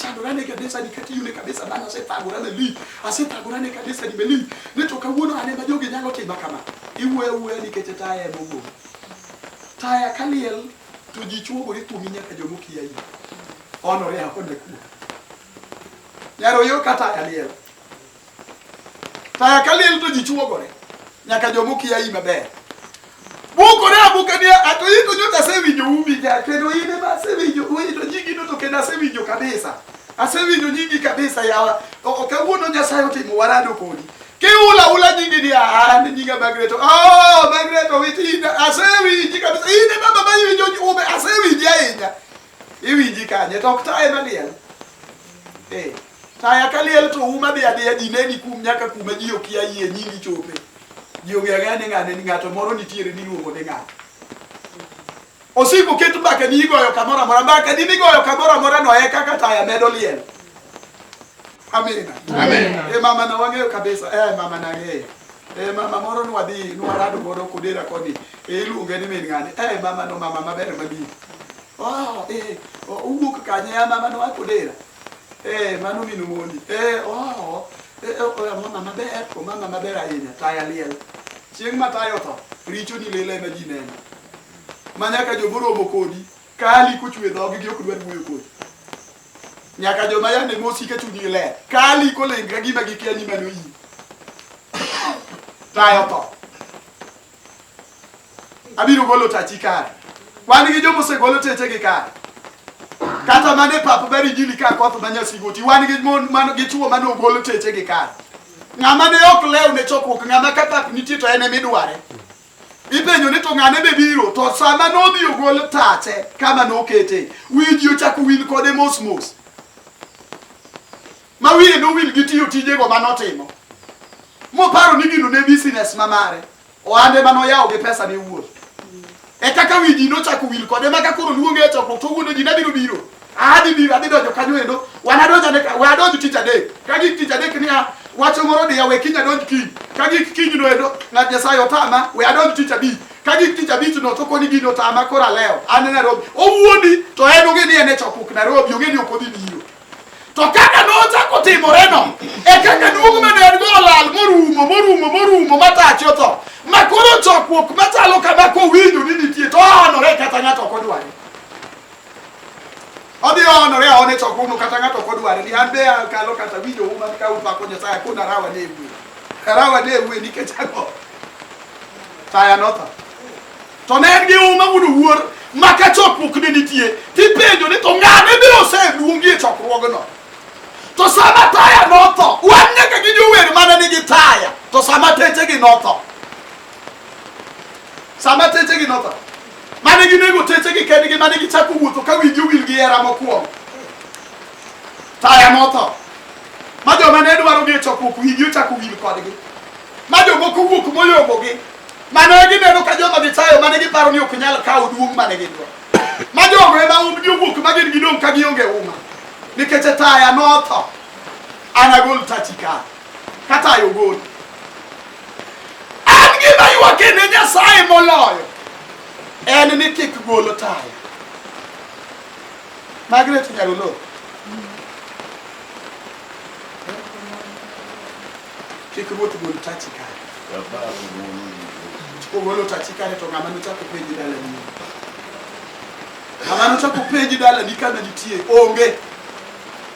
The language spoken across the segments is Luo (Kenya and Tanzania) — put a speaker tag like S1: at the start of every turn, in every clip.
S1: tagorane kabisa nikati yune kabisa bana ase tagorane li ase tagorane kabisa ni meli ne to kawuono ane ma jogi nyalo tima kama iwe uwe ni kete taya mogo taya kaliel to ji chuogo ni tumi nyaka jomo kiya yi ono re hakone ku yaro yo kata kaliel Taya ka liel to ji chuogore nyaka joma okia yi maber. Bukore abuka ni ato yi to nyocha asewinjo umi ga kendo yi ne asewinjo uyi to nyingi no to kendo asewinjo kabisa. Asewinjo nyingi kabisa yawa. Ok kawuono Nyasaye otimo warado kodi. Kiula ula nyingi ni ah ni nyinga Magret. Oh Magret owitinda asewinji kabisa. Yi ne baba ma yiwinjo ume asewinji ahinya. Iwinji kanye to ok taye maliel. Eh. Taya ka liel to uma dhi adhiya ji neni kum nyaka kuma ji okia yie nyingi chope. Ji onge ang'eya ni ng'ane ni ng'ato moro nitiere ni luongo ni ng'ato. Osiko ket mbaka ni igoyo kamoro amora mbaka ni migoyo kamoro amora no e kaka taya medo liel. Amina. Amina. E mama na wang'eyo kabisa. E mama na ng'eyo. E mama moro nwadhi nwarado godo kodera koni. E iluonge ni min ng'ane. E mama no mama maber mabiro. Oh, e owuok kanye ya mama no akodera. Eh, mano min Molly. Eh, oh, eh, eh, oh, mama maber, oh, mama maber ahinya, taya liel. Chieng' ma tayo tho, richo ni lele ma ji neno. Ma nyaka jo moromo kodi, kali kuchwe dhogi gi ok dwar wuoyo kodi. Nyaka joma yande mosi ka chunyi ler, kali kolengra gima gikia ni mano iyi. Tayo tho. Abiro golo tachi kare. Wan gi joma osegolo techegi kare. Kata mana e pap beri jili ka koth ma nyasigoti. Wan gi mon man gi chuo mane ogolo techegi kare. Ng'ama ne ok lew ne chokruok, ng'ama ka pap nitie to en ema idware. Ipenjo ni to ng'ane be biro to sama nodhi ogol tache kama nokete wiji ochako wil kode mos mos ma wiye nowil gi tiyo tijego manotimo moparo ni gino ne business ma mare Ohande mane oyawo gi pesa ne wuon. E kaka wi ji nochako wil kode ma ka koro luonge e chokruok to wuondo ji ne biro biro. Adhi biro adhi donjo kanyo endo. Wan adonjo ne we adonj tich adek. Ka gik tich adek niya wacho moro diya we kiny adonj kiny. Ka gik kiny no endo ng'at Nyasaye otama we adonj tich abich. Ka gik tich abich no to koni gino otama koro alewo. An Nairobi. Owuondi to en onge ni en e chokruok Nairobi onge ni ok odhi biro. To kaka nochako timoreno, e kaka duong' ma ne en-go olal morumo morumo morumo ma tache otho, ma koro chokruok machalo kama kowinjo ni nitie to ohanore kata ng'ato ok odware. Odhi ohanore aone chokruogno kata ng'ato ok odware ni an be akalo kata winjo uma ka upako Nyasaye kod arawa ne ewuwe. Arawa ne ewuwe nikech ang'o? Taya notho. To ne en gi huma mondo wuor ma ka chokruok ne nitie tipenjo ni to ng'ane biro oseluongi e chokruogno to sama taya notho wan nyaka gi jower mana nigi taya to sama techegi notho sama techegi notho mane ginego techegi kendgi mane gichako wuotho ka winji owil gi hera mokwongo taya notho ma joma ne dwaro gi e chokruok winji ochako wil kodgi ma jomoko wuok moyombogi mane gineno ka joma gichayo mane giparo ni ok nyal kawo duong' mane gidwa ma jogo ema umgi owuok ma gin gidong' ka gionge uma nikech e taya notho anagol tachi ka katayo ogol an gima ywake ne nyasaye moloyo en ni kik golo taya magret nyarolo Kik ruoth gol tachi kare. Kogolo tachi kare to ng'ama nochako penji dala ni. Ng'ama nochako penji dala ni kana nitie onge.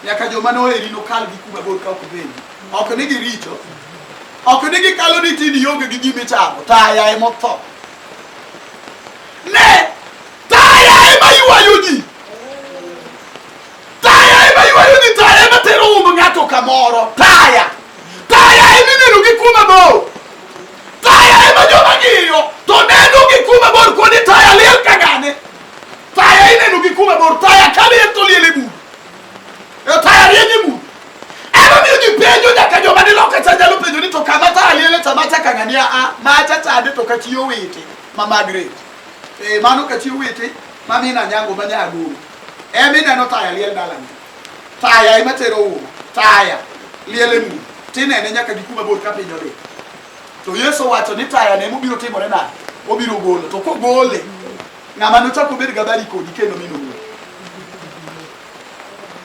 S1: Nyaka joma noheri nokal gi kuma bor ka ok penji. Ok ni giricho. Ok ni gikalo ni tini ionge gi gima ichamo. Taya ema otho. Ne! Taya ema ywayo ji. Taya ema ywayo ni taya ema tero umbo ng'ato kamoro. Taya. Taya ema ineno gi kuma bor. Taya ema joma ng'iyo to neno gi kuma bor kuonde taya liel ka gane. Taya ineno gi kuma bor. Taya ka liel to liel e bur. E taya rieny e bur. Ema miyo ji penjo nyaka joma ni loka cha nyalo penjo ni to kama taya liel e tama cha kang'ani a a macha chande to kachiyo wete ma Margaret. Eh mano kachiyo wete ma mina nyango ma nyagoro. Ebe ineno taya liel dalani, taya ema tero uma, taya liel e mudho, tinene nyaka gi kuma bor ka piny odhi. To Yesu wacho ni taya ne mobiro timore nade? Obiro golo, to kogole, ng'ama nochako obed gabari kodi kendo mino wuoth.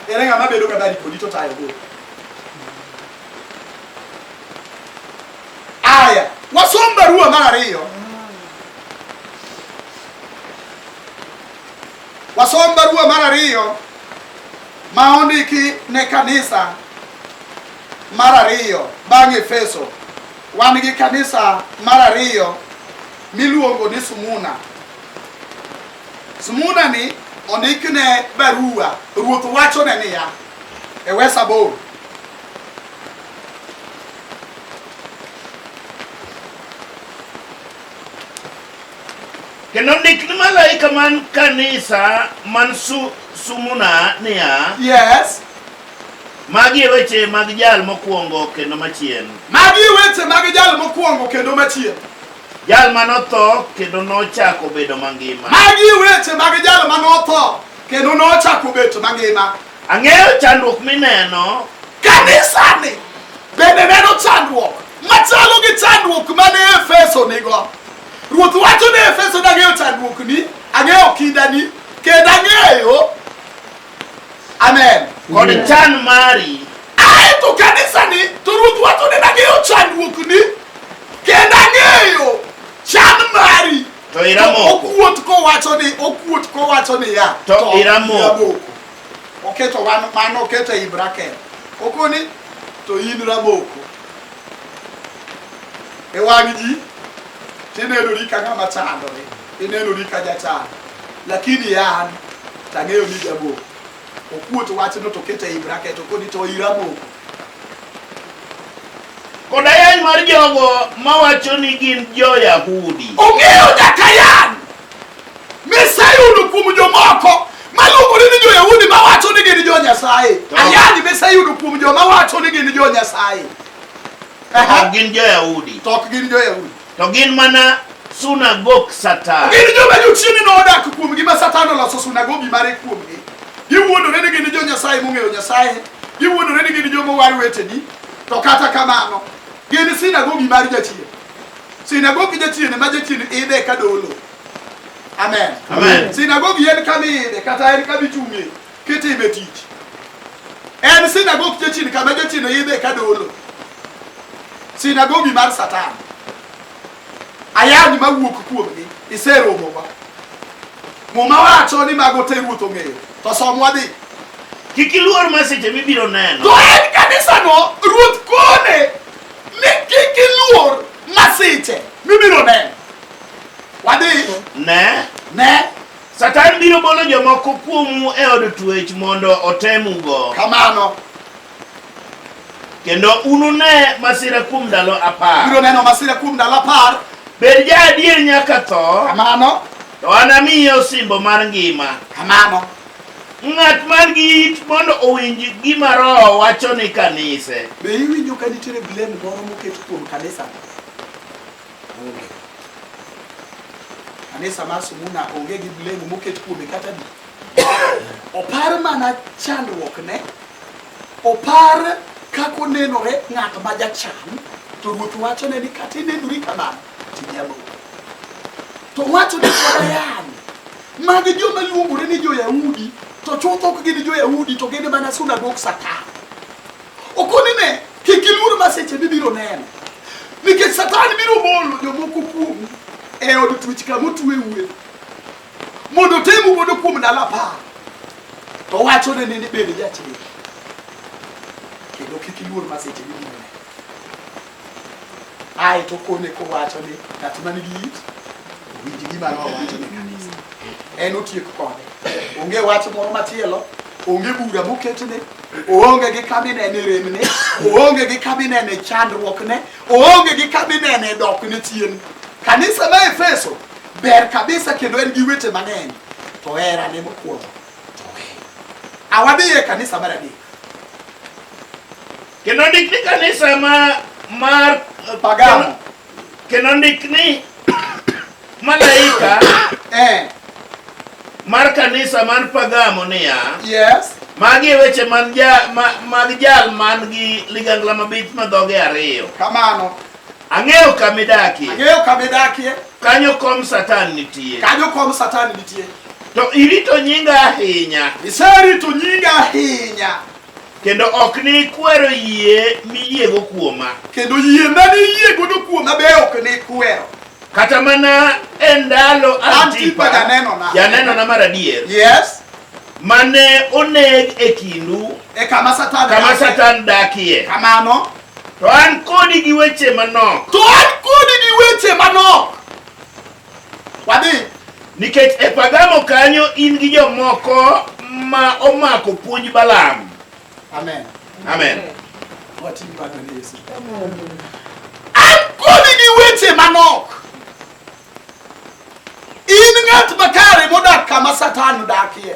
S1: Ere ng'ama bedo gabari kodi to taya ogolo? Aya, wasom barua mar ariyo Wasom barua mar ariyo ma ondiki ne kanisa mar ariyo bang' Efeso. Wan gi kanisa mar ariyo miluongo ni Sumuna. Sumuna ni ondikne barua, ruoth wachone niya e wes aboro Kendo ndik ni malaika man kanisa man su, sumuna niya, Yes. magi e weche mag jal mokwongo kendo machien, Magi e weche mag jal mokwongo kendo machien. jal ma notho kendo nochako bedo mangima. Magi e weche mag jal ma notho kendo nochako bet mangima. Ang'eyo chandruok mineno. Kanisani bende neno chandruok machalo gi chandruok mane Efeso nigo. Ruoth wacho ne Efeso ni ang'eyo chandruokni, ang'eyo kindani, kendo ang'eyo amen kod chan mari. Ae to kanisani to Ruoth wacho ni ang'eyo chandruokni, kendo ang'eyo chan mari. To iramoko. Okuot kowacho ni okuot kowacho ni ya. To iramoko. Oketo wan mano oketo ei bracket. Okoni to in raboko. E wang' ji tinenori ka ng'ama chandore, inenori ka jachando. Lakini an tang'eyo ni jaboko. Okuot wachno to oketo ei bracket okoni to iramoko. Koda yany mar jogo mawacho ni gin jo-Yahudi. Ung'eyo nyaka yany miseyudo kuom jomoko maluongore ni jo-Yahudi mawacho ni gin jo-Nyasaye. Ayany miseyudo kuom joma wacho ni gin jo-Nyasaye. To ok gin jo-Yahudi. To ok gin jo-Yahudi. To gin mana sunagok Satan. Gin joma jochiende nodak kuomgi ma Satan oloso sunagogi mare kuomgi. Giwuondore ni gin jo Nyasaye mong'eyo Nyasaye. Giwuondore ni gin joma war weteni. To kata kamano, gin sinagogi mar jachien. Sinagogi jachien ma jachien ide ka dolo. Amen. Amen. Sinagogi en kama ide kata en kama ichung'e. kitime tich en sinagog jachien kama jachien oyidhe ka dolo sinagogi mar satan ayany mawuok kuomgi iseromowa muma wacho ni mago te ruoth ong'eyo to somwa dhi kik iluor ma seche mibiro neno to en kanisano ruoth kone ni kik iluor masiche mibiro neno wadhi ne ne Satan biro bolo jomoko kuomu e od twech mondo otemugo. Kamano. Kendo unune masira kuom ndalo apar. Biro neno masira kuom ndalo apar. Bed ja adier nyaka tho. Kamano. To anamiye osimbo mar ngima. Kamano. Ng'at man gi it mondo owinj gima Roho wacho ni kanise. Be iwinjo ka nitiere blend moro moket kuom kanisa? Onge. Ane sama sumuna onge gi blame moket kuome kata di. Opar mana chandruok ne. Opar kako nenore ng'at ma jachan to ruoth wacho ne ni kata inenori kamano tinyalo. To wacho ni kodayan mag joma luongore ni jo-Yahudi to chutho ok gin jo-Yahudi to gin mana sunagok satan. Okoni ne kik iluor maseche mibiro neno, nikech Satan biro bolo jomoko kuomu e od twech kama otweue mondo otemu godo kuom ndalo apar, to wacho ne nende bende jachir kendo kik iluor maseche mibiro neno. ae to kone kowacho ni ng'at man gi it owinj gima roho wacho ni kanisa en otiek kode onge wach moro machielo onge bura moketne oonge gi kabinene remne oonge gi kabinene chandruokne oonge gi kabinene dokne chien kanisa ma efeso ber kabisa kendo en gi wete mang'eny to herane mokwongo to awadhiye kanisa mar adek Kendo ndik ni kanisa ma mar Pagano. Kendo ndik ni malaika eh. mar kanisa man Pagamo niya. Yes. Magi e weche man ja, ma, mag jal man gi ligangla mabith ma dhoge ariyo. Kamano. Ang'eyo kama idakie. Ang'eyo kama idakie. Kanyo kom Satan nitie. Kanyo kom Satan nitie. To irito nyinga ahinya. Iserito nyinga ahinya. kendo ok ni ikwero yie miyiego kuoma kendo yie mane iyiegodo kuoma be ok ni ikwero kata mana e ndalo antipa janenona mar adier yes mane oneg e kindu e kama satan kama satan dakie kamano to an kodi gi weche manok to an kodi gi weche manok Wadhi. Nikech e Pergamo kanyo in gi jomoko ma omako puonj Balaam. Amen. Amen. An kodi gi weche manok. In ng'at makare modak kama Satan odakie.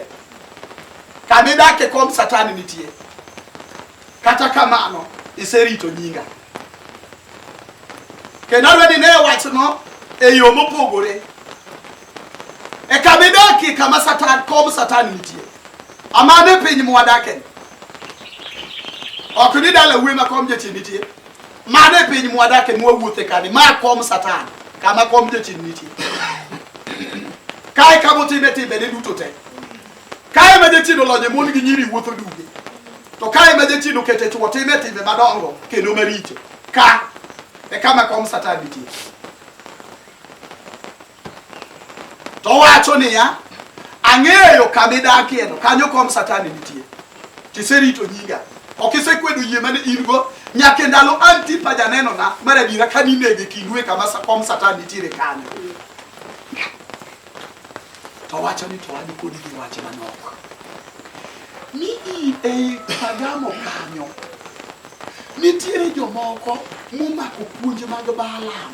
S1: Kama idakie kom Satan nitie. Kata kamano iserito nyinga. kendo alweni ne wachno e yo mopogore e kama idakie kama satan kom satan nitie amano e piny mwadake ok ni dala wuoyi ma kom jachien nitie mano e piny mwadake mwawuothe kani ma kom satan kama kom jachien nitie kae kama otime timbene duto te Kae ma jachien olonye mon gi nyiri wuotho duge, to kae ma jachien okete chwo time timbe madongo kendo maricho, ka e kama kom Satan nitie. To wacho niya, ang'eyo kama idakieno, kanyo kom Satan nitie. Tiserito nyinga, ok isekwedo yie mane in go nyaka e ndalo Antipa janenona mar adiera ka ninege kindue kama kom Satan nitiere kanyo. To wacho ni to wan kod gi wach manok. Ni i ei Pergamo kanyo nitiere jomoko momako puonj mag Balaam.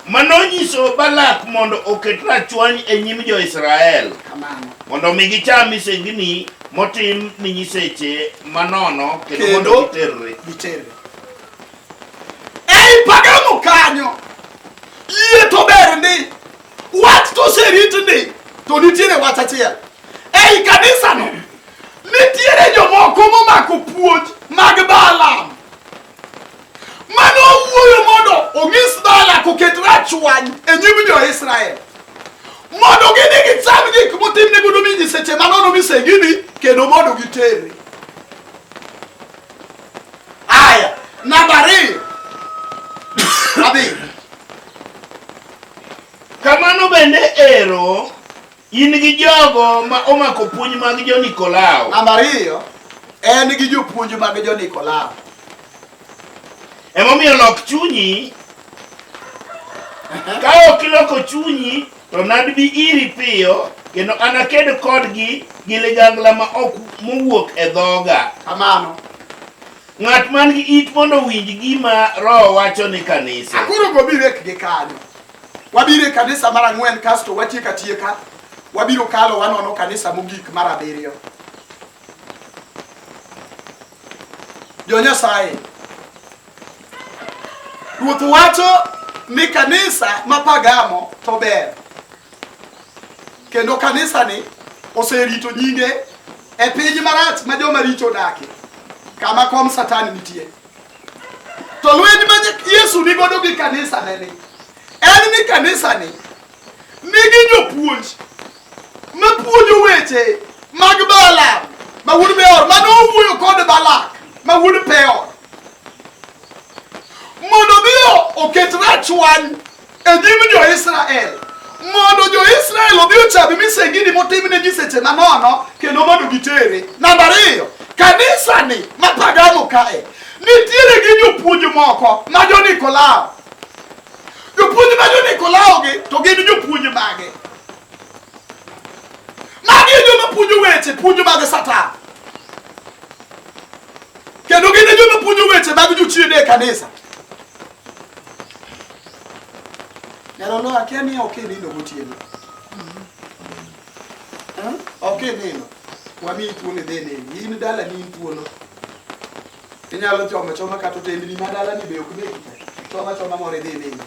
S1: Mano nyiso Balak mondo oket rachwany e nyim jo-Israel Kamano. mondo omi gicham misengini motim ni nyiseche manono kendo mondo Kendo- giterre. Giterre. Ei pagamo kanyo, yie to ber ndi, wach to oserit ndi, to nitiere wach achiel. Ei kanisano, nitiere jomoko momako puonj mag Balaam. Mane owuoyo mondo onyis Balak oket rachwany e nyim jo-Israel mondo gidhi gicham gik motimne godo mi nyiseche manono misengini kendo mondo giterre. Haya, nambari abich. Kamano bende ero in gi jogo ma omako puonj mag jo-Nikolao. Namba ariyo, en gi jopuonj mag jo-Nikolao. Emomiyo lok chunyi ka ok iloko chunyi To nadbi iri piyo, kendo anaked kodgi gi ligangla ma ok mowuok e dhoga. Kamano. Ng'at man gi it mondo owinj gima Roho wacho ni kanise. Akoro go birek gi kanyo. Wabiro e kanisa mar ang'wen kasto watieko atieka. Wabiro kalo wanono kanisa mogik mar abiriyo. Jo Nyasaye, Ruoth wacho ni kanisa ma Pagamo to ber kendo kanisani oserito nyinge e piny marach ma joma richo odake kama kom satan nitie to lweny ma yesu ni godo gi kanisa neni en ni kanisa ni nigi jopuonj mapuonjo weche mag Balaam ma wuod Beor mane owuoyo kod Balak ma wuod Peor mondo mi oket rachwany e nyim jo-Israel mondo jo-Israel odhi ocham misengini motimne nyiseche manono kendo mondo gitere. Namba ariyo, kanisani ma Pagano kae nitiere gi jopuonj moko ma jo-Nikolao. Jopuonj ma jo-Nikolaogi to gin jopuonj mage? Magi e joma puonjo weche puonjo mag Satan. Kendo gin e joma puonjo weche mag jochiende e kanisa. Nyarolo akia ni ok inino gotieno. Eh? Ok inino. Wamiyi thuolo idhi nini. In dala ni in thuolo. Inyalo choma choma kata otendni ma dalani be ok negi te. Choma choma moro idhi inindi.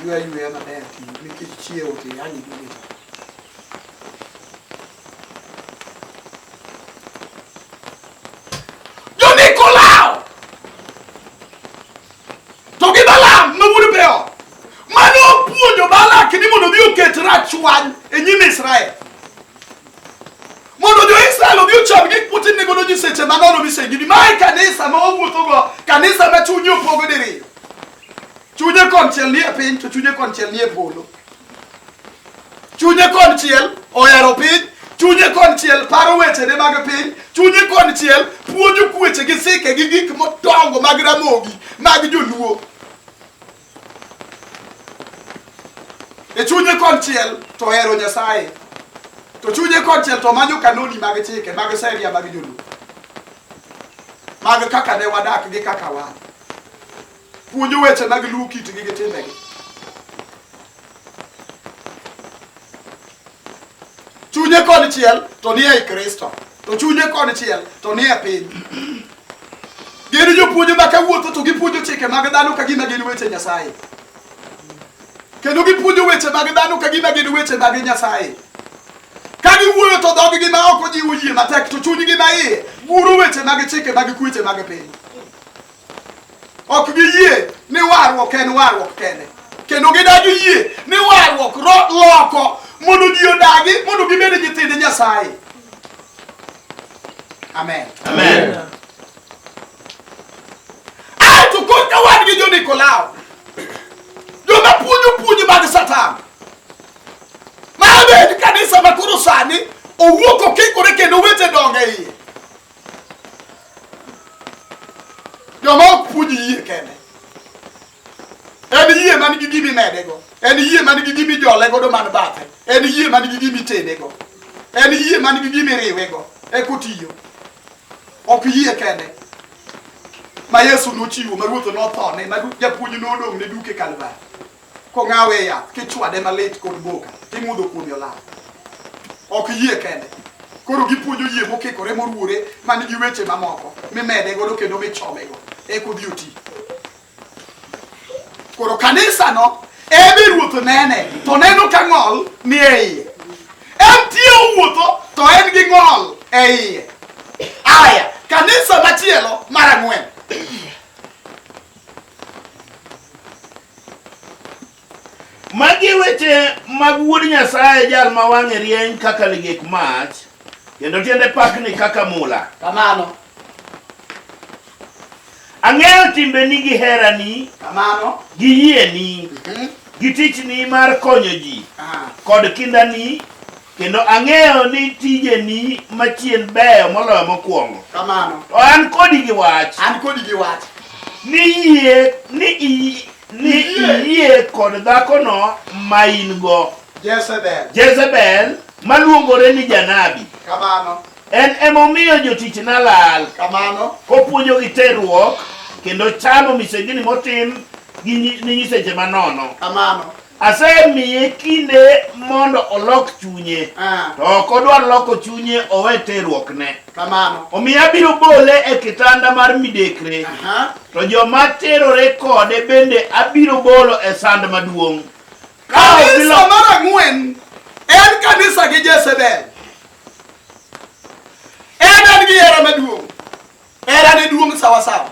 S1: Ywe ayweya maber ti nikech chiewo ti yani idhi to. Jonikolao! To gi Balaam ma wuod Beor mane opuonjo Balak ni mondo odhi oket rachwany e nyim Israel. mondo jo Israel obi ocham gik putin ne godo nyiseche ma nono misengini. Mae kanisa ma owuothogo, kanisa ma chunye opogo diriyo. Chunye konchiel ni e piny to chunye konchiel ni e polo. Chunye konchiel ohero piny, chunye konchiel paro wechene mag piny, chunye konchiel puonjo kueche gi sike gi gik modongo mag ramogi mag joluo. e chunye konchiel to ohero Nyasaye to chunye konchiel to manyo kanoni mag chike mag seria mag joluo mag kaka ne wadak gi kaka wa puonjo weche mag luo kitgi gi timbegi chunye kod chiel to ni ei kristo to chunye kod chiel to ni e piny gin jopuonje ma kawuotho to gipuonjo chike mag dhano ka gima gin weche nyasaye kendo gipuonjo weche mag dhano ka gima gin weche mag nyasaye ka giwuoyo to dhoggi ma ok ojiwo yie matek to chunygi ma iye guro weche mag chike mag kweche mag piny ok giyie ni warruok en warruok kende kendo gidagi yie ni warruok loko mondo ji odagi mondo gibed nyithind nyasaye amen amen aeto kod ka wan gi jonikolao joma puonjo puonj mag satan ma abed kanisa ma koro sani owuok okikore kendo wete donge iye joma ok puonj yie kende en yie man gi gimi medego en yie man gi gimi jole godo man bathe en yie man gi gimi tedego en yie man gi gimi riwego e kotiyo ok yie kende ma yesu nochiwo ma ruoth nothone ma japuonj nodong' ne duke kalvari kong'awe e yath kichwade malit kod boka kimudho kuome olaw ok yie kende koro gipuonjo yie mokikore moruwore ma nigi weche mamoko mimede godo kendo michomego eka odhi oti koro kanisano ebe ruoth nene to neno ka ng'ol ni e iye en tie owuotho to en gi ng'ol e iye aya kanisa machielo mar ang'wen Magi e weche mag Wuod Nyasaye, jal ma wang'e rieny kaka ligek mach, kendo tiende pakni kaka mula. Kamano. Ang'eyo timbeni gi herani. Kamano. Gi yieni. Mhm. Gi tichni mar konyo ji. Kod kindani Kendo ang'eyo ni tijeni machien beyo moloyo mokwongo. Kamano. To an kodi gi wach. An kodi gi wach. Ni yie ni i- ni Iyie. iyie kod dhakono ma in go. Jezebel. Jezebel maluongore ni janabi. Kamano. En emomiyo jotichna lal. Kamano. Kopuonjogi terruok kendo chamo misengini motim gi nyi- ni nyiseche manono. Kamano. asemiye kinde mondo olok chunye Ah. to ok odwar loko chunye owe terruokne Kamano. omiyo abiro bole e kitanda mar midekre Aha. to joma terore kode bende abiro bolo e sand maduong' Ka ok Kanisa gilo- mar ang'wen en kanisa gi Jezebel. En en gi hera maduong'. Era ne duong' sawa sawa.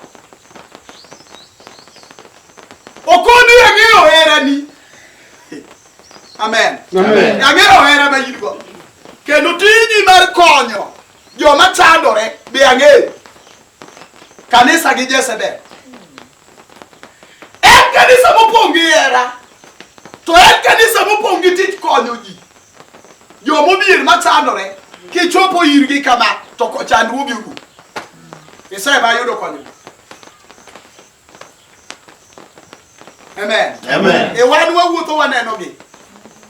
S1: Okoni ang'eyo hera ni. Amen. Amen. Ang'eyo hera ma in go. Kendo tiji mar konyo joma chandore be ang'eyo. Kanisa gi Jezebel. En kanisa mopong' gi hera, to en kanisa mopong' gi tich konyo ji. Joma odhier ma chandore, kichopo irgi kama, to ko- chandruogi orum. Nyasaye ma yudo konyruok. Amen. Amen. E wan wawuotho wanenogi.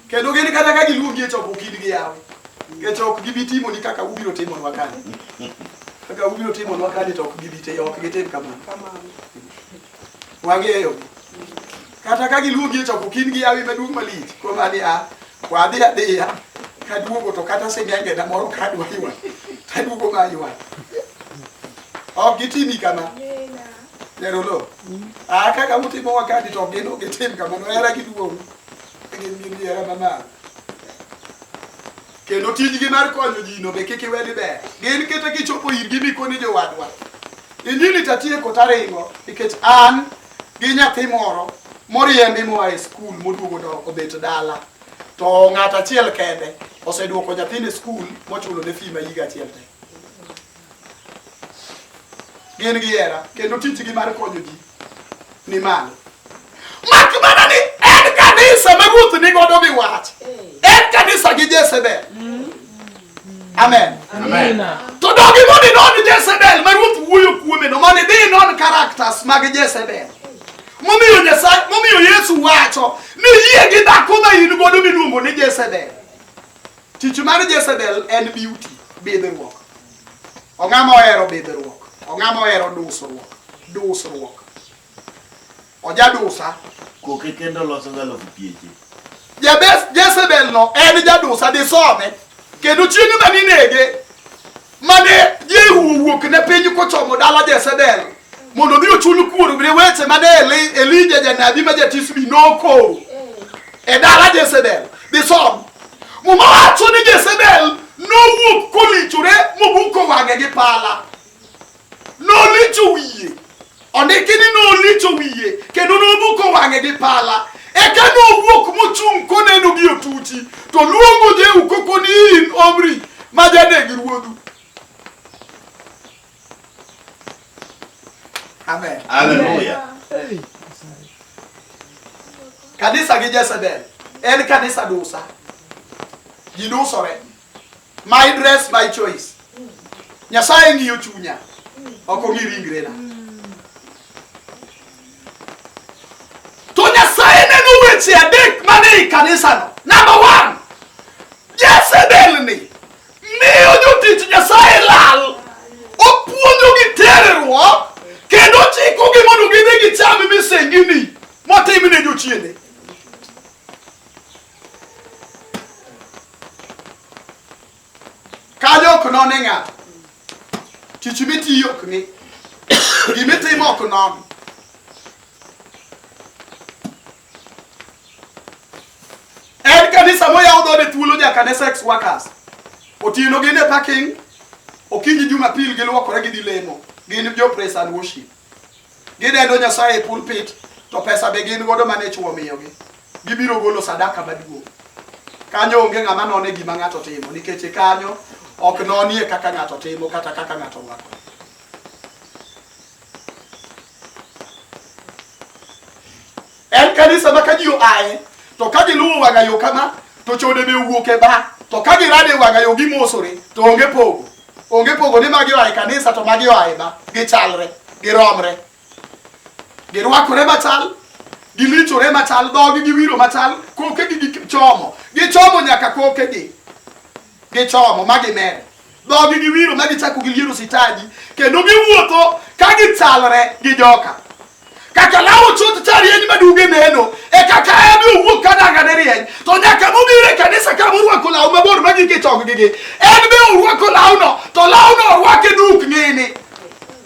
S1: Kendo gin kata ka giluongi e chokruok in gi yawe. Nikech ok gibi timoni kaka ubiro timonwa kani. Kaka ubiro timonwa kani to ok gibi te ok gitim kamano. Wang'eyo. Kata ka giluongi e chokruok in gi yawe maduong' malich. Kuom ani a wadhi adhiya kaduogo to kata sing'engena moro kadwa ywa taduogo ma ywa. Ok gitimi kama. Nero lo. Ah kaka utimo wakati to ok gin ok gitim kamano. Hera giduong'. Gin gi diera mamalo. Kendo tijgi mar konyo ji no be kik iwe ni ber. Gin kata kichopo irgi mikoni jowadwa. Injili tatieko taringo nikech an gi nyathi moro moriembi moa e skul moduogo do- obet dala to ng'at achiel kende oseduoko nyathine skul mochulo ne fee ma higa achiel te gin gi hera kendo tijgi mar konyo ji ni malo mak mana ni en kanisa ma ruoth ni godo mi wach en kanisa gi jezebel amen to dogi mondo inon jezebel ma ruoth wuoyo kuome no mondo idhi inon characters mag jezebel momiyo nyasaye momiyo yesu wacho ni yie gi dhako ma in godo miluongo ni jezebel Tich mar Jezebel en beauty, bidhruok. Ong'ama ohero bidhruok, ong'ama ohero dusruok, dusruok. Ojadusa. Koke kendo loso galo pieche. Jabes Jezebel no en jadusa disome kendo chieng' ma ninege mane Jehu owuok ne piny kochomo dala Jezebel mondo odhi ochul kuor ne weche mane Elija janabi ma jatisbi nokoro e dala Jezebel. Disom muma wacho ni Jezebel nowuok kolichore mobuko wang'e gi pala. n'olicho wiye ondiki ni n'olicho wiye kendo nobuko wang'e gi pala eka nowuok mochung' koneno gi otuchi to luongo jehu koko ni in omri ma janeg ruodhu amen Hallelujah. kanisa gi jezebel en kanisa dusa ji dusore My dress, my choice. Nyasaye ng'iyo chunya, ok ong'i ringrena. To Nyasaye neno weche adek mane i kanisano. Number one, Jezebel ni miyo jotich Nyasaye lal, opuonjogi terruok kendo chikogi mondo gidhi gicham misengini motimne jochiende. Kanyo ok none ng'ato. Tich mitiyo ok ni. Gimitimo ok non. En kanisa moyaw dhode thuolo ja kanisa ex workers. Otieno gin e parking. Okinyi Jumapil giluokore gidhi lemo. Gin jo praise and worship. Gidendo Nyasaye e pulpit to pesa be gin godo mane chwo miyogi. Gibiro golo sadaka maduong'. Kanyo onge ng'ama none gima ng'ato timo nikech e kanyo ok nonie kaka ng'ato timo kata kaka ng'ato rwako. En kanisa ma ka ji oaye to ka giluwo wang'a yo kama to chode be owuok e ba to ka girado e wang'a yo gimosore to onge pogo onge pogo ni magi oaye kanisa to magi oaye ba gichalre giromre. Girwakore machal, gilichore machal, dhogi giwiro machal, kokegi gichomo, gichomo nyaka kokegi gichomo ma gimer. Dhogi giwiro ma gichako giliero sitaji kendo giwuotho ka gichalre gi joka. Kaka lawo chuth cha rieny maduge neno, e kaka en be owuok ka dangane rieny. To nyaka mobiro e kanisa ka morwako law mabor ma gike choggi gi, en be orwako lawno, to lawno orwake duk nini.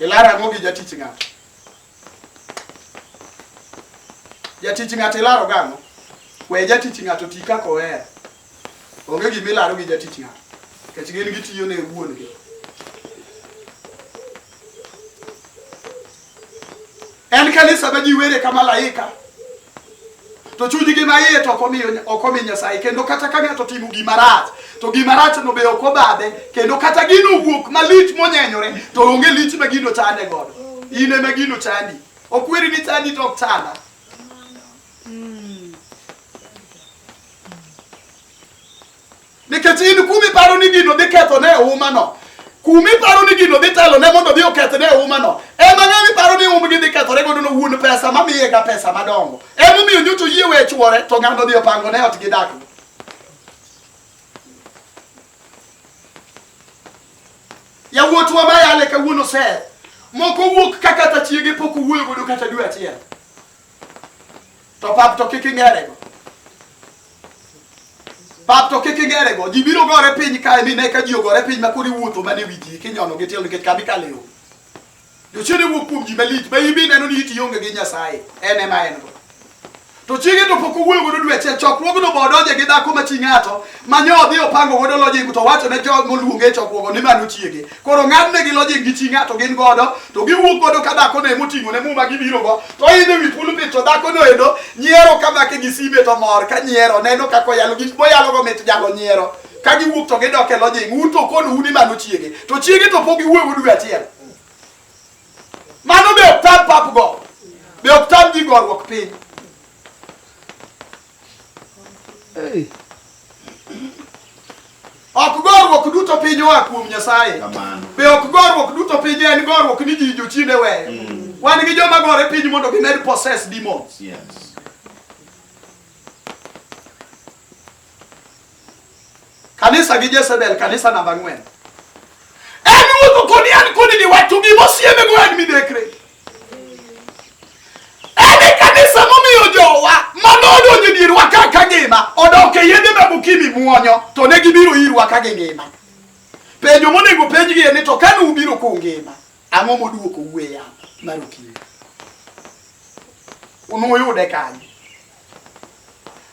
S1: Ilar ang'o gi jatich ng'ato? Jatich ng'ato ilaro gang'o? We jatich ng'ato ti kaka ohero. Onge gima ilaro gi jatich ng'ato. Nikech gin gitiyo ne wuon gi. En kanisa ma ji were ka malaika to chunygi ma iye to ok omi Nyasaye kendo kata ka ng'ato timo gima rach to gima rach no be ok obadhe kendo kata gino wuok malich monyenyore to onge lich ma gino chande godo in ema gino chandi ok weri ni chandi to ok chanda nikech in kuma iparo ni gino dhi ketho ne oumano kuma iparo ni gino dhi telo ne mondo dhi oketh ne oumano ema ng'ama iparo ni umgi dhi kethore godo no wuon pesa mamiye ga pesa madongo emomiyo nyoto yie we chwore to ng'ano dhi opango ne ot gi dakgo yawuotwa mayale kawuono ser moko wuok ka kata chiege pok owuoyo godo kata dwe achiel To pap to kik ing'erego. Pap to kik ing'erego. Ji biro gore piny kae mi ne ka ji ogore piny ma koro iwuotho mana e wi ji kinyono gi tielo nikech kami kale yo. Jochiende wuok kuom ji malich ma ibi neno ni iti onge gi Nyasaye. En ema en go. To chiege to pok owuoyo godo dwe achiel chokruogno bo odonje gi dhako ma chi ng'ato ma nyo odhi opango godo lojing to wacho ne jog moluonge e chokruogo ni mano chiege koro ng'adnegi lojing gi chi ng'ato gin godo to giwuok godo ka dhako ne moting'o ne muma gibiro go to idhi wi pulpit to dhako no endo nyiero ka make gi sime to mor ka nyiero neno kaka oyalo gik moyalo go mit jalo nyiero ka giwuok to gidok e lojing un to kono un imano chiege to chiege to pok iwuoyo dwe achiel mano be ok tam pap go be ok tam ji gorruok piny Hey. Ok gorruok duto piny oa kuom Nyasaye. Be ok gorruok duto piny en gorruok ni ji jochiende weyo. Mm. Wan gi joma gore piny mondo gimed possess demons. Yes. Kanisa gi Jezebel, kanisa namba ang'wen. En wuotho kodi an kodi ni wacho gi mosieme go en midekre. En e kanisa momiyo jowa mano odonjo dier wa ka ka ngima odok e yedhe ma bukimi muonyo to ne gibiro ir wa ka gi ngima. Penjo monego penjgi en ni to kane ubiro ku ngima ang'o moduoko uwe ya mar okinyi. Unuyude kanyo.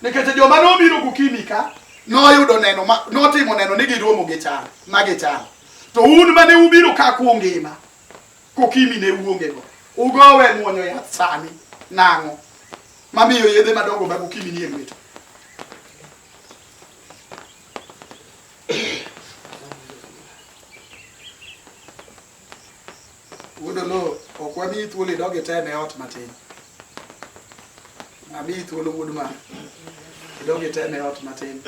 S1: Nikech joma nobiro gokinyi ka noyudo neno ma notimo neno ni giromo gi chal ma gichal. To un mane ubiro ka kungima kokimi ne uonge go. Ugowe muonyo yath sani nang'o mamiyo yedhe madongo mag okimi nie lwetu. Wuod Oloo, ok wamiyi thuolo idog item e ot matin. Amiyi thuolo wuod ma idog item e ot matin.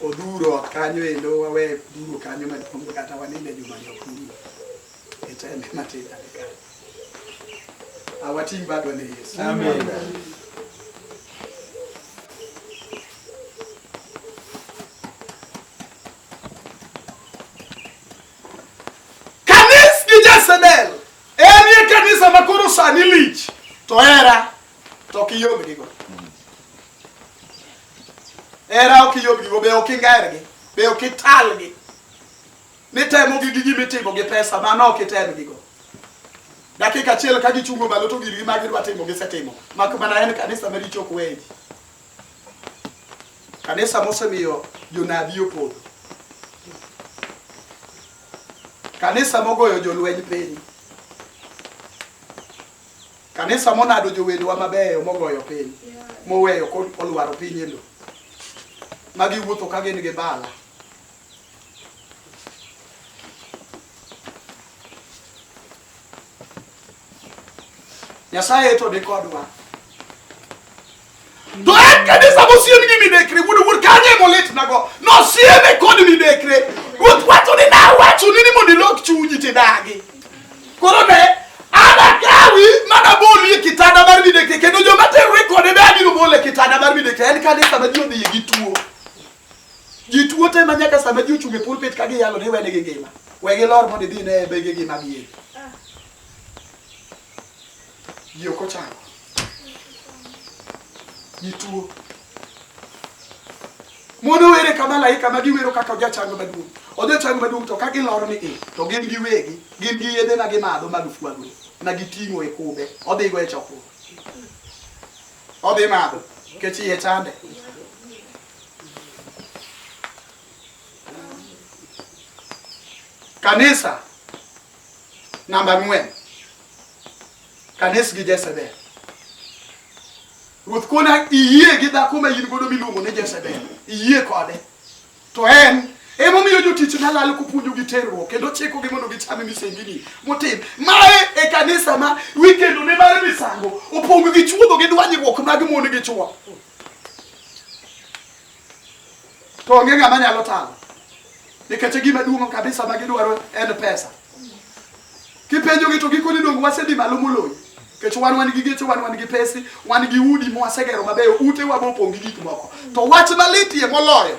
S1: Odhuro ot kanyo endo wawe duro kanyo maduong' kata waninde juma ni ok duro. Item e matin ane kanyo. Awating' badwa ne Yesu. Amen. Kanis gi Jezebel enie kanisa ma koro sani lich to hera to ok iyomgigo. Hera ok iyomgigo be ok ingergi be ok italgi nitemogi gi gima itimo gi pesa mano ok itemgigo dakika achiel ka gichungo malo to girgi ma gidwa timo gisetimo mak mana en kanisa maricho ok weyi Kanisa mosemiyo jonabi opodho. Kanisa mogoyo jolweny piny. Kanisa monado jowedewa mabeyo mogoyo piny moweyo kolwaro piny e lowo. Magi wuotho ka gin gi bala. nyasaye to ni kodwa to en kanisa mosiem gi midekre wuod wuod kanye molitnago nosieme kod midekre ruoth wacho ni nawachoni ni mondo ilok chunyi tidagi koro ne anakawi mana boli e kitanda mar midekre kendo joma terore kode be abiro bole kitanda mar midekre en kanisa ma ji odhiye gi tuo Ji tuo te ma nyaka sama ji ochung' e pulpit ka giyalo ni wene gi ngima. We gilor mondo idhi ne bege gi mag yie. Ji ok ochango. Ji tuo. Mondo were ka malaika ma giwero kaka ojachango maduong'. Ojachango maduong' to ka gilor ni i to gin gi wegi gin gi yedhe ma gimadho mag fwagre ma giting'o e kube odhigo e chokruok. Odhi madho kech iye chande. Kanisa namba ng'wen, kanis gi Jezebel. Ruoth kona iyie gi dhako ma in godo miluongo ni Jezebel, iyie kode to en emomiyo jotichna lal kopuonjogi terruok kendo chikogi mondo gichame misengini motim mae e kanisa ma wikendone mar misango opong' gi chuodho gi dwanyruok mag mon gi chwo to onge ng'ama nyalo talo nikech e gima duong' kabisa ma gidwaro en pesa. Kipenjogi to gikoni donge wasedhi malo moloyo nikech wan wan gi geche wan wan gi pesi wan gi udi ma wasegero mabeyo ute wa mopong' gi gik moko to wach malitie moloyo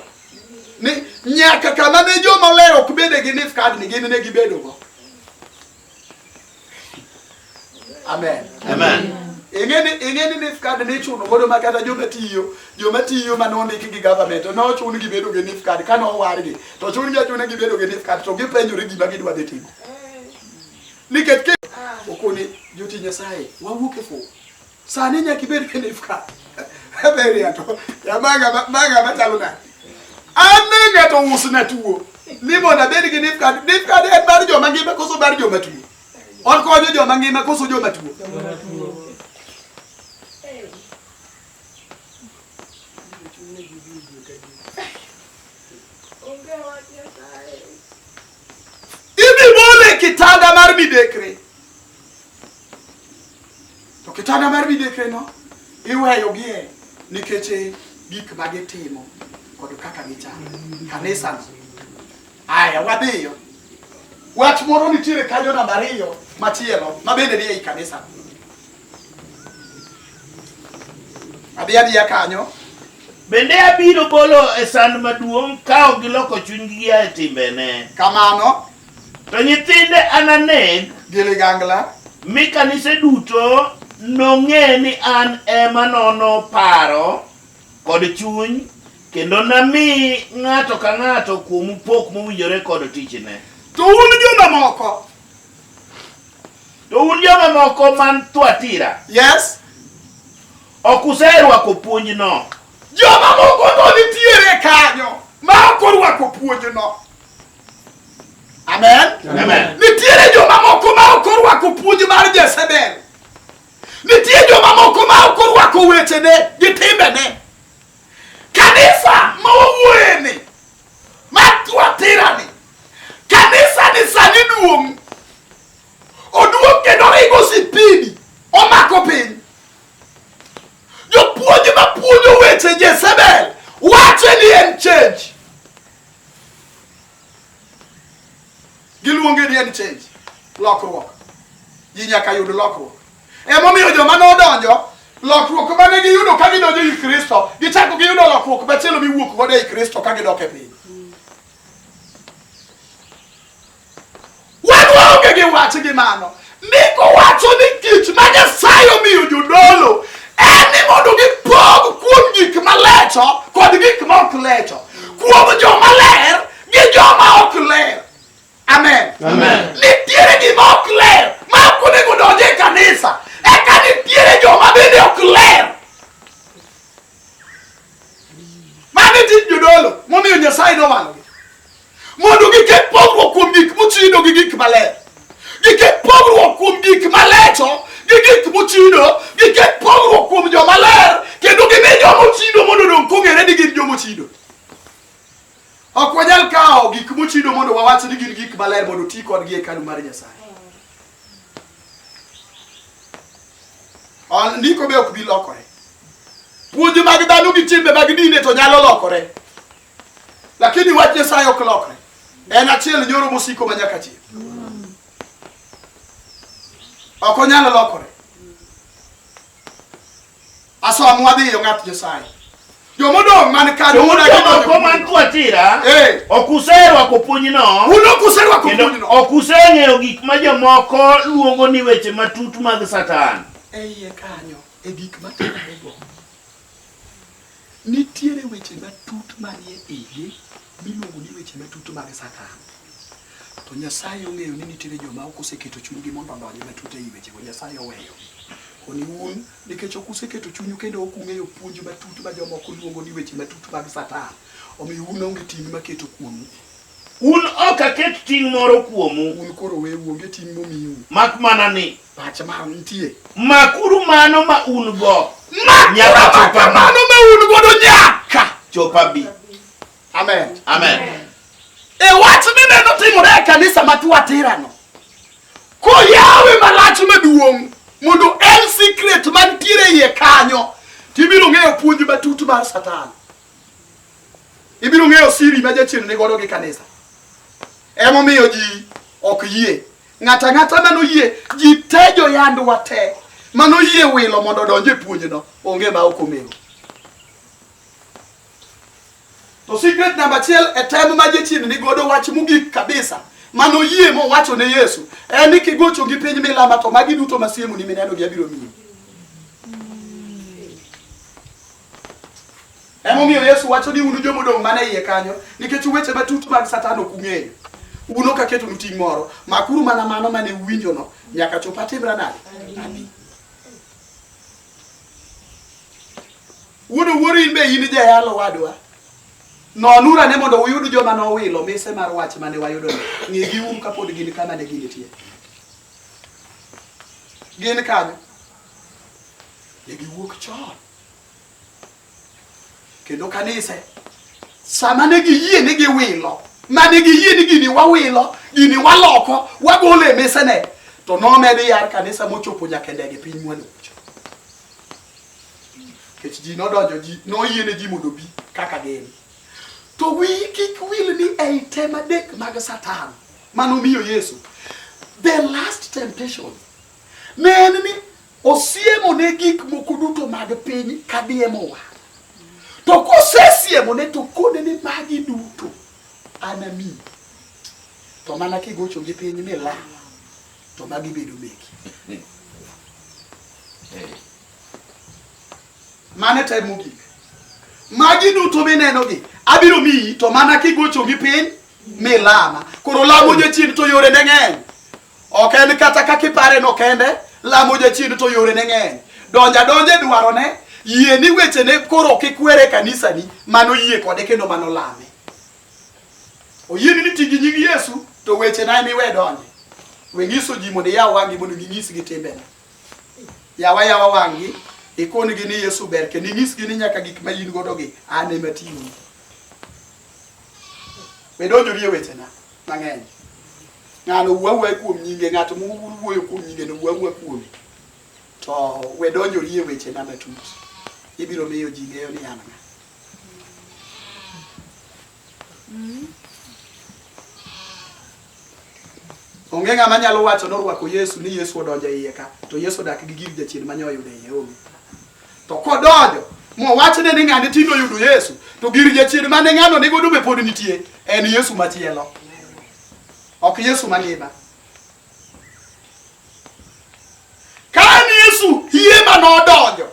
S1: ni nyaka kama ne joma ler ok bede gi nifkadni gin ne gibedogo Amen. Amen. Ingeni ingeni ni card ni chuno godo ma kata joma tiyo, joma tiyo ma nondiki gi government no chun gi bedo gi NIF card kana owargi. To chun gi achuna gi bedo gi NIF card to gipenjore gima gidwa dhi timo. Nikech ke okoni joti Nyasaye wawuok e fo. Sani nyaka ibed kenif ka. Ebe ria to. Ya maga maga machalo na. Ane ng'ato usna tuo. Ni mondo abed gi nif kad. Nif kad en mar joma ngima koso mar joma tuo. On konyo joma ngima koso joma tuo. Ibi bole kitanda mar midekre. To kitanda mar midekre no iweyo gie nikech e gik ma gitimo kod kaka gichalo. Kanisa no. Aya wadhiyo. Wach moro nitiere kanyo namba ariyo machielo mabende ni ei kanisa. Adhi adhiya kanyo. Bende abiro bolo e sand maduong' ka ok giloko chunygi gia e timbene. Kamano. To nyithinde ananeg. Gi ligangla. Mi kanise duto nong'e ni an ema nono paro kod chuny kendo nami ng'ato ka ng'ato kuomu pok mowinjore kod tichne. To un jomamoko To un joma moko man Thuatira, Yes. ok userwako puonjno. Joma moko to nitiere kanyo ma ok orwako puonjno. Amen. Amen. Nitiere joma moko ma ok orwako puonj mar Jezebel. Nitie joma moko ma ok orwako wechene gi timbene. Kanisa ma wawuoyeni, ma Thuatirani, Kanisa ni sani duong'. Oduong' kendo ringo sipidi. Omako piny. Jopuonj ma puonjo weche Jezebel wache ni en change. Giluonge ni en change. Lokruok. Ji nyaka yud lokruok. Emomiyo joma nodonjo lokruok ma ne giyudo ka gidonjo i Kristo, gichako giyudo lokruok machielo miwuok godo i Kristo ka gidok e piny. Wan waonge gi wach gi mano. Ndiko wacho ni tich ma Nyasaye omiyo jodolo en ni mondo gipog kuom gik malecho kod gik ma ok lecho, kuom joma ler gi joma ok ler. Amen. Amen. Nitiere gima ok ler ma ok onego donje e kanisa, eka nitiere joma bende ok ler. Mano e tij jodolo momiyo Nyasaye nowalogi mondo giket pogruok kuom gik mochido gi gik maler giket pogruok kuom gik malecho gi gik mochido giket pogruok kuom joma ler kendo gimi joma ochido mondo odong' kong'ere ni gin joma ochido ok wanyal kawo gik mochido mondo wawach ni gin gik maler mondo ti kodgi e hekalu mar nyasaye Ndiko be ok bi lokore. Puonj mag dhano gi timbe mag dine to nyalo lokore, lakini wach Nyasaye ok lokre. En achiel nyoro mosiko ma nyaka chieng', ok onyal lokore. Asom wadhi yo ng'at Nyasaye. Jomodong' man kanyo Jomoko man Thuatira eh. ok userwako puonjno un ok userwako puonjno ok useng'eyo gik ma jomoko luongo ni weche matut mag Satan. E iye kanyo e gik matimorego Nitiere weche matut manie igi miluongo ni weche matut mag Satan. To Nyasaye ong'eyo ni nitiere joma ok oseketo chunygi mondo odonj matut ei wechego. Nyasaye oweyo koni un nikech ok useketo chunyu kendo ok ung'eyo puonj matut ma jomoko luongo ni weche matut mag Satan. Omiyo un onge ting' maketo kuomu. Un ok aket ting' moro kuomu. Un koro weuru onge ting' momiu. Mak mana ni Pache ma nitie. Makuru mano ma un go. Nyaka chopa bi. Mano ma un go do nyaka chopa bi. Amen. Amen. E wach ni neno timore e kanisa ma Thuatira no. Ko yawe malach maduong' mondo en secret mantiere iye kanyo tibiro ng'eyo puonj matut mar Satan. Ibiro ng'eyo siri ma jachien ni godo gi kanisa. Emomiyo ji ok yie. Ng'ato ang'ata mano yie ji te jo yandwa te mano yie wilo mondo odonj e puonjno onge ma ok omego. To secret namba achiel e tem ma jachien ni godo wach mogik kabisa mano yie mowacho ne Yesu en ni kigocho gi piny milama to magi duto masiemo ni mineno gi abiro miyi. Emomiyo Yesu wacho ni un joma odong' mana iye kanyo, nikech weche matut mag Satan ok ung'eyo. Un ok aketonu ting' moro, makuru mana mano mane uwinjono nyaka chop atimra nade? Abi. Wuod wuoro in be in jayalo wadwa. Nonuru ane mondo uyud joma nowilo mise mar wach mane wayudono. Ng'egi uru kapod gin kama ne ginitie. Gin kanyo. Ne giwuok chon. kendo kanise sama ne giyie ni giwilo mane giyie ni gini wawilo gini waloko wagolo e mesene to nomedi yar kanisa mochopo nyaka ndege piny mwanucho kech ji nodonjo ji noyie ne ji mondo obi kaka gin to wi kik wil ni ei tem adek mag satan manomiyo yesu the last temptation ne en ni Osiemo ne gik moko duto mag piny ka diemo wa. To kosesiemo ne to kode ni magi duto anami. To mana kigocho gi piny ni la to magi bedo meki. Mane time mogik. Magi duto mineno gi abiro miyi to mana kigocho gi piny mi lama koro lamo jachien to yore ne ng'eny ok en kata kaka ipare no kende lamo jachien to yore ne ng'eny donja donje dwaro ne yie ni weche ne koro kikwere kanisa ni mano yie kode kendo mano lame oyie ni tigi nying Yesu to weche na miwe donje we nyiso ji mondo iyaw wangi mondo ginyis gi timbe na yawa yawa wangi ikoni gi ni Yesu ber kendo inyis gi ni nyaka gik ma in godo gi an ema tiyoni Be donjori e wechena mang'eny? Ng'ano wuo awuoya kuom nyinge, ng'ato muwuoyo kuom nyinge no wuo awuoya kuome. To we donjori e wechena matut. Ibiro miyo ji ng'eyo ni an ng'a. Onge ng'ama nyalo wacho norwako Yesu ni Yesu odonjo e iye ka, to Yesu odak gi gir jachien ma nyoyudo e iye onge. To kodonjo mowachne ni ng'ane tinde oyudo Yesu, to gir jachien mane ng'ano nigo dume pod nitie, en Yesu machielo, ok Yesu mangima. Ka en Yesu hie ma nodonjo,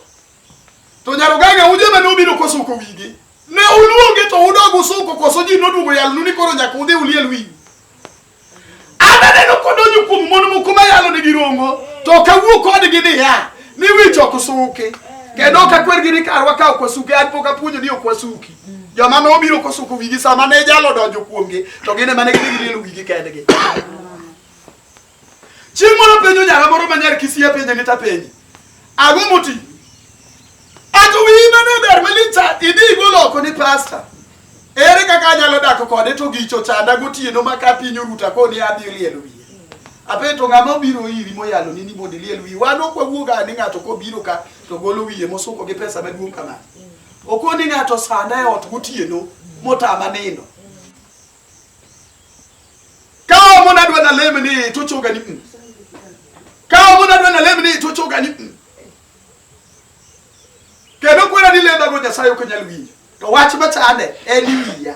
S1: to nyaroganga uje ma nobiro kosuko wigi, ne uluonge to udog usuko koso ji noduogo yalnu ni koro nyaka udhi uliel wigi? Ananeno kodonjo kuom mon moko mayalo nigi rongo to ok awuo kodgi niya ni wich ok suki kendo ok akwergi ni karwa ka ok wasuki an pok apuonjo ni ok wasuki joma nobiro kosuko wigi sama ne jalo donjo kuomgi to gin ema ne gidhi gilielo wigi kendgi chieng' moro penjo nyara moro manyar kisie penje ni tapenji ang'o moti Atụwa ime n'ebe ermelita ịdị igbo ụlọ ọkụ ni pasta. Ere kaka anyalo dak kode to gi chocha ada gotieno ma ka piny oruta koni adhi liel wiye. Apeto ng'ama obiro iri moyalo ni ni mondo iliel wiye. Wan ok wawuoga ni ng'ato kobiro ka to golo wiye mosuko gi pesa maduong' kama. Okoni ng'ato sanda e ot gotieno motama nindo. Kawo mo nadwa nalem ni to choga ni. mm. Kawo mo nadwa nalem ni to choga ni. mm. kendo kwera ni lendago nyasaye ok nyal winjo to wach machande en wiya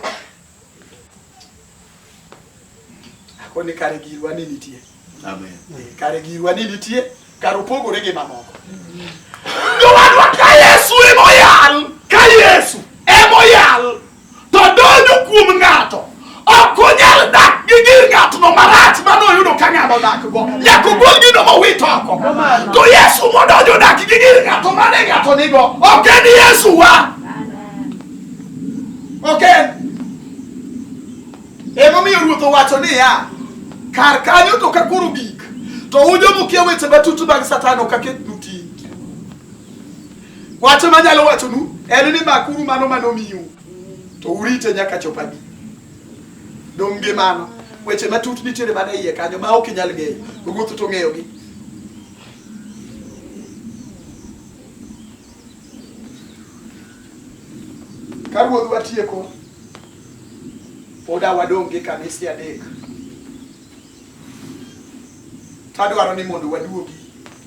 S1: akoni kare girwa ni nitie Amen. Eh, kare girwa ni nitie kare opogore gi mamoko jowadwa ka yesu emoyal ka yesu emoyal to donjo kuom ng'ato ok onyal dak gi gir ng'atno marach mane oyudo ka ng'ano dakgo nyaka ogol gino mowit oko to yesu modonjo dak gi gir ng'ato mane ng'ato nigo ok en yesu wa ok en emomiyo ruoth owacho niya kar kanyo to ka koro gik to ujomukia weche matut mag satan ok aketnu Wacho ma nyalo wachonu en ni makuru mano mane omiu to urite nyaka chop abi. Dong' gi mano weche matut nitiere mana iye kanyo ma ok inyal ng'eyo, ruoth to ong'eyogi. Ka ruoth watieko, poda wadong' gi kanise adek. Tadwaro ni mondo waduogi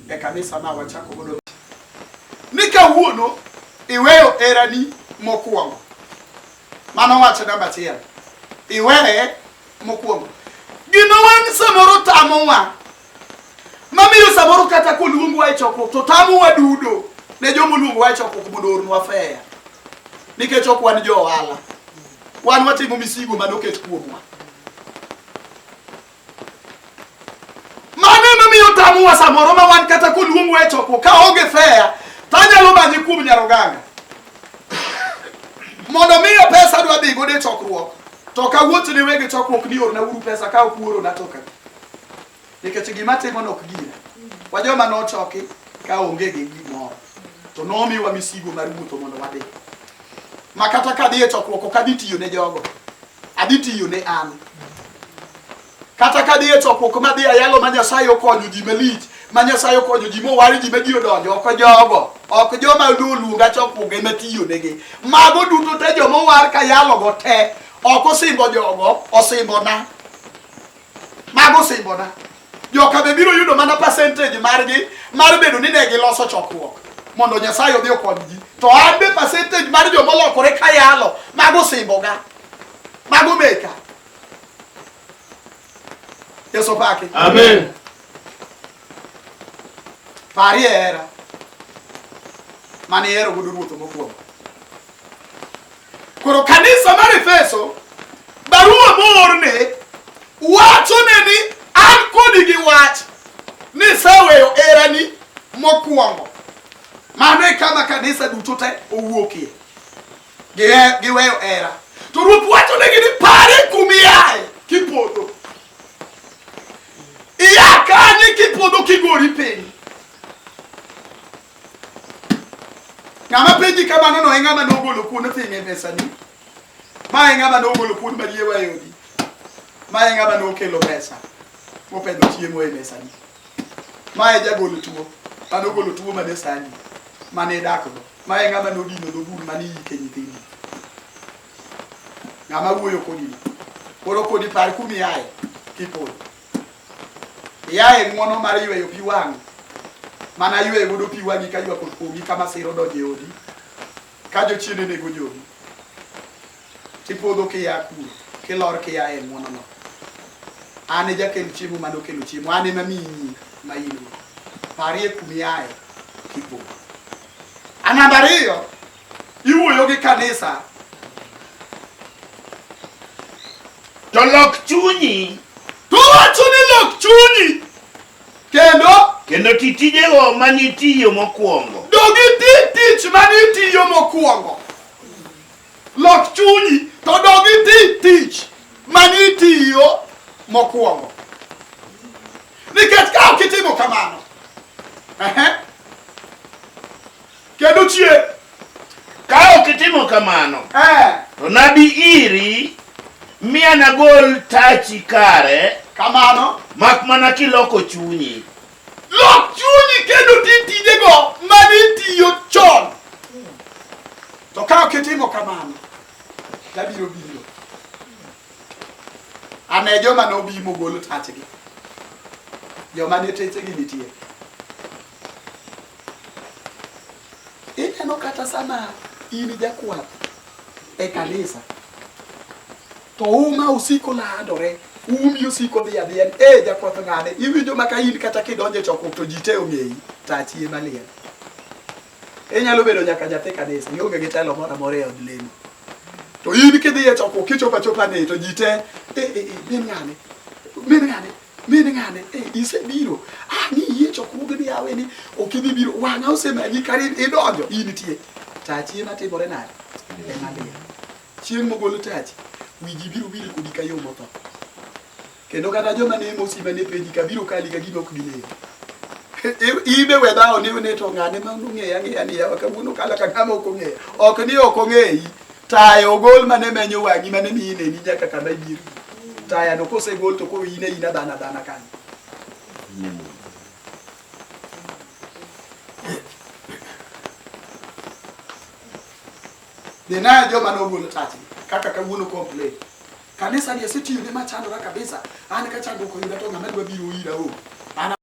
S1: e kanisa ma wachako godo ni kawuono iweyo erani mokwongo mano wacho namba achiel iweye mokwongo gima wan samoro tamowa mamiyo samoro kata koluongwa e chokruok to tamowa dudo ne joma oluongowa e chokruok mondo ornwa feya nikech ok wan jo ohala wan watimo misigo mane oket kuomwa Mano emomiyo tamuwa samoro ma wan kata koluong we choko ka onge fea to anyalo manyi kuom nyaroganga mondo miyo pesa dwa dhi godo e chokruok to kawuocho ne wege chokruok ni orna uru pesa ka ok uorona to kaka nikech gima timo nok gira wa joma nochoki ka onge gi gimoro to nomiwa misigo mar wuotho mondo wadhi ma kata ka adhi e chokruok ok adhi tiyo ne jogo, adhi tiyo ne an. Kata ka adhi e chokruok ma adhi ayalo ma Nyasaye okonyo ji malich, ma Nyasaye okonyo ji mowar ji ma ji odonjo, ok jogo, ok joma oluonga chokruok ema tiyo negi. Mago duto te joma owar ka yalogo te, ok osimbo jogo, osimbona. Mago simbona. Joka be biro yudo mana percentage margi mar bedo ni ne giloso chokruok mondo Nyasaye odhi okonygi. To an be percentage mar joma olokore ka yalo mago simboga. Mago meka. Yesu pake. Amen. Parie era. Mane ero gudu ruoth mokwongo. Koro kanisa mar Efeso barua moorne wachone ni an kodi gi wach ni seweyo erani mokwongo. Mano e kama kanisa duto te owuokie giweyo era. To Ruoth wachonegi ni pare kumiaye kipodho iya kanye kipodho kigori piny Ng'ama penji kamano no e ng'ama nogolo kuon oting'e mesani. Ma e ng'ama nogolo kuon marie wa e odi. Ma e ng'ama nokelo pesa mopedho chiemo e mesani. Ma e jagolo tuo, ma nogolo tuo mane sani, mane dakgo. Ma e ng'ama nodino dho bur mane iyike nyithindi. Ng'ama wuoyo kodi no. Koro kodi par kumiaye kipodho. Yaye ng'wono mar yweyo pi wang' mana yweyo godo pi wang'i ka ywak okuomi ka masira odonjo e odi ka jochiende nego jogi tipodho kiya kuro kilor kiya e ng'wonono an e jakel chiemo mane okelo chiemo an ema miyi nying ma in-go parie kumiaye kipodho a namba ariyo Iwuoyo gi kanisa. To lok chunyi. To wacho ni lok chunyi. Kendo? Kendo ti tijego ma nitiyo mokwongo. Dogi ti tich ma nitiyo mokwongo. Lok chunyi to dogi ti tich ma nitiyo mokwongo. Nikech ka ok itimo kamano, Kendo chie. Ka ok itimo kamano, eh. to nabi iri mi anagol tachi kare. Kamano. Mak mana kiloko chunyi. Lok chunyi kendo ti tijego mane itiyo chon. To ka ok itimo kamano, tabiro biro. Ane joma nobi mogolo tachgi. Joma ne techegi nitie. Ineno kata sama in jakwath e kanisa to uma usiko landore umi usiko dhi adhiya e jakwath ng'ane iwinjo maka in kata kidonjo e chokruok to ji te ong'eyi to achie maliel inyalo bedo nyaka nyathi kanisa ionge gi telo moro amora e od lemo to in kidhi e chokruok kichopo achopa ni to ji te e, e, e, min ng'ane min ng'ane min ng'ane e isebiro ah ni yie chokruoge ni yawe ni ok idhi biro wang'a osemanyi kar idonjo in tie tachi ema timore nade ema dhiyo chieng' mogolo tachi wiji biro biri kodi ka yo motho kendo kata joma ne mosi mane penji ka biro kali ka gima ok gileyo ibe we dhawo ni ne to ng'ane ma ong'eya ng'eya ni yawa kawuono kala ka ng'ama ok ong'eya ok ni ok ong'eyi Taya ogol mane menyo wang'i mane miyi neni nyaka kama ibiro. Taya no kosegol to koro in aina dhana dhana kanyo. Ninayo joma nogolo tati kaka kawuono complain. Kanisa ni asetiyone machandora kabisa. An ka chandruok oyuda to ng'ama dwa biro ira o. An